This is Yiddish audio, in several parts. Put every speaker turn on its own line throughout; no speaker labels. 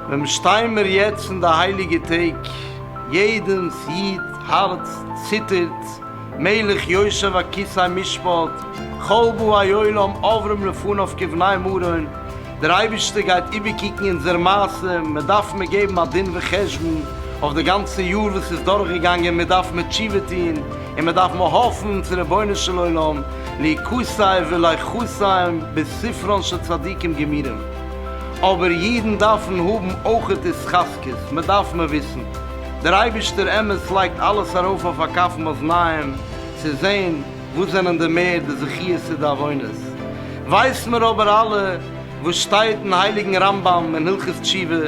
ווען שטיי מיר יעצט אין די הייליגע טעג, יעדענס איד הארץ ציטערט, מלך יושב על כסא משפט, כל באי עולם עוברים לפניו כבני מרון, דער אייבערשטער גייט איבערקוקן אונזער מעשה, מען דארף מיר געבן א דין וחשבון אויף די גאנצע יאר וואס איז דורכגעגאנגען, מיר דארף מיר תשובה טון, און מיר דארף מיר האפן צו רבונו של עולם ליקוטיו ולחוסיו בספרן של צדיקים גמורים, אבער אידן דארפן האבן אויך התחזקות, מען דארף מיר וויסן, דער אייבערשטער אמת לייגט אלעס ארויף אויף הקפות מאזניים צו זען, וואס זענען די מער די זכיות צו די עוונות? ווייסן מיר אבער אלע וואס שטייט אין הייליגן רמב ם אין הלכות תשובה,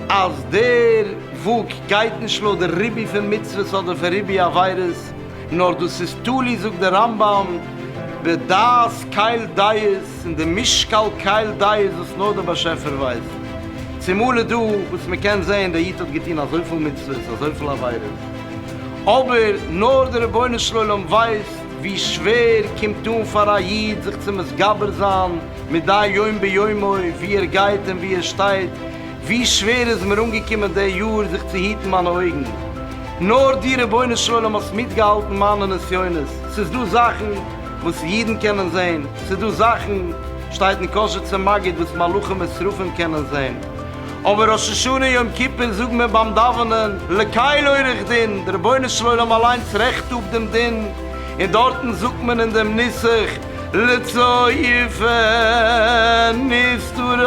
אז דער וואג גייט נישט לויט די ריבוי פון מצוות אדער פון ריבוי עבירות, נאר דאס איז תלוי זאגט דער רמב ם בדעת קהל דעת און די משקל קהל דעת וואס נאר דער באשעפער ווייסט. צומאל איז דא וואס מען קען זען דער איד האט געטון אזויפיל מצוות אזויפיל עבירות, אבער נאר דער רבונו של עולם ווייסט ווי שווער קומט אן פאר א איד זיך צו מתגבר זיין מדי יום ביומו ווי ער גייט און ווי ער שטייט, ווי שווער איז מיר אנגעקומען די יאר זיך צו היטן מיינע אויגן, נאר דו רבונו של עולם האסט מיטגעהאלטן מיינע נסיונות, ס'איז דא זאכן וואס אידן קענען זען, ס'איז דא זאכן שטייט אין קשר צום מגיד וואס מלאכים ושרפים קענען זען, אבער ראש השנה יום כיפור זאגן מיר ביים דאווענען לקהל עורך דין, די רבונו של עולם אליינס רעכט אפ דעם דין, און דארטן זאגט מען אין דעם נוסח לצופה נסתרות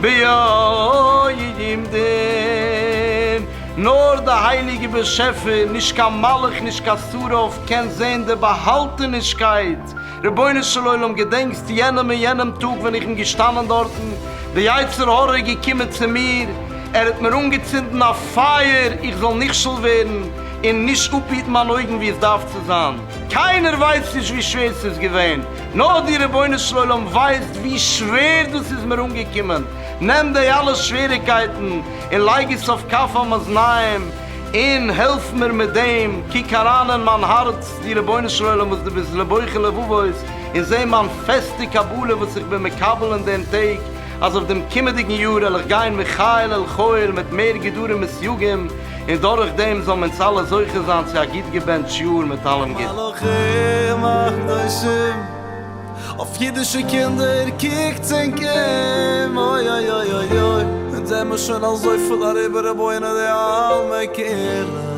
ביום דין, נאר די הייליגע באשעפער, נישט קיין מלאך נישט קיין שרף, קען זען די באהאלטענישקייט רבונו של עולם געדענקסט יענעם און יענעם טאג ווען איך בין געשטאנען דארטן, די יצר הרע איז געקומען צו מיר, ער האט מיר אנגעצינדן א פייער איך זאל נכשל ווערן און נישט אפהיטן מיין אויגן ווי עס דארף צו זיין, קיינער ווייסט נישט ווי שווער ס'איז געווען, נאר דו רבונו של עולם ווייסט ווי שווער דאס איז מיר אנגעקומען, נעם די אלע שוועריקייטן און לייג עס אויף כף המאזניים און העלף מיר מיט דעם, קוק אריין אין מיין הארץ, די רבונו של עולם וואס דו ביסט לבוחר לבבות, און זע מיין פעסטע קבלה וואס איך בין מקבל אין דעם טעג, אז אויף דעם קומעדיגן יאר על איך גיין מחיל אל חיל מיט מער גדרים וסייגים, און דורך דעם זאלן אונז אלע זוכה זיין צו א גוט געבענטש יאר מיט אלעם גוטן. מלאכים
הקדושים אויף אידישע קינדער קוקטס און קום אוי אוי אוי אוי אוי אונז זעמער שוין אזויפיל אריבער רבונו דעלמא קום און